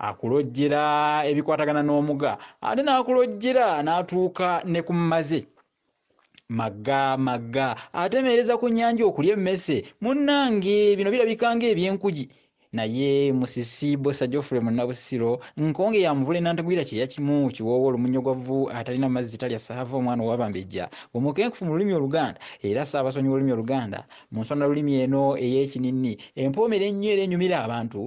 Akulojjera ebikwatagana n'omuga ate n'akulojjera n'atuuka ne ku maze. Magga, magga, atemeereza ku nnyanja okulya emmese. Munnange bino birabika ng'eby'enkugi. Naye Musisi, Bbosa Geoffrey Munnabusiro, Nkonge ya Muvule Nantagwira kyeya kimu, Kiwoowa olumunyogwavu, atalina mazzi talya ssaava, omwana owa Bambejja, omukenkufu mu lulimi Oluganda era Ssaabasonyi w'olulimi Oluganda, mu nsonalulimi eno ey'ekininni empoomera ennyo era enyumira abantu,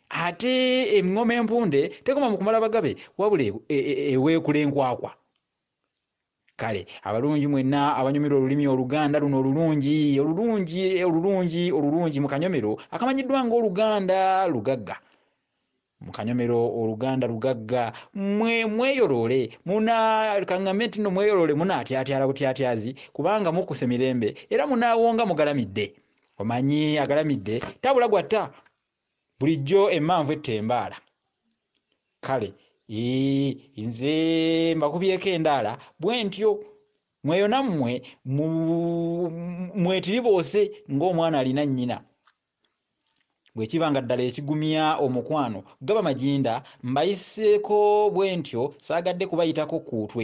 Ate eŋŋoma empunde tekoma mu kumala bagabe wabula e, e, e, eweekula enkwakwa. Kale abalungi mwenna abanyumirwa olulimi Oluganda luno olulungi olulungi olulungi olulungi mu kanyomero akamanyiddwa ng'Oluganda lugagga mu kanyomero oluganda lugagga mwe mweyoloole muna kaŋŋambe nti nno mweyoloole munaatyatyala butyatyazi kubanga mukkuse mirembe era munaawonga mugalamidde omanyi agalamidde tabula gwatta Bulijjo emmanvu etta embaala. Kale ii nze mbakubyeko endaala bwentyo. Mweyo nammwe mu, mwetiriboose ng'omwana alina nnyina. Bwe kiba nga ddala ekigumya omukwano gaba maginda, mbayiseeko bwentyo saagadde kubayitako kkuutwe.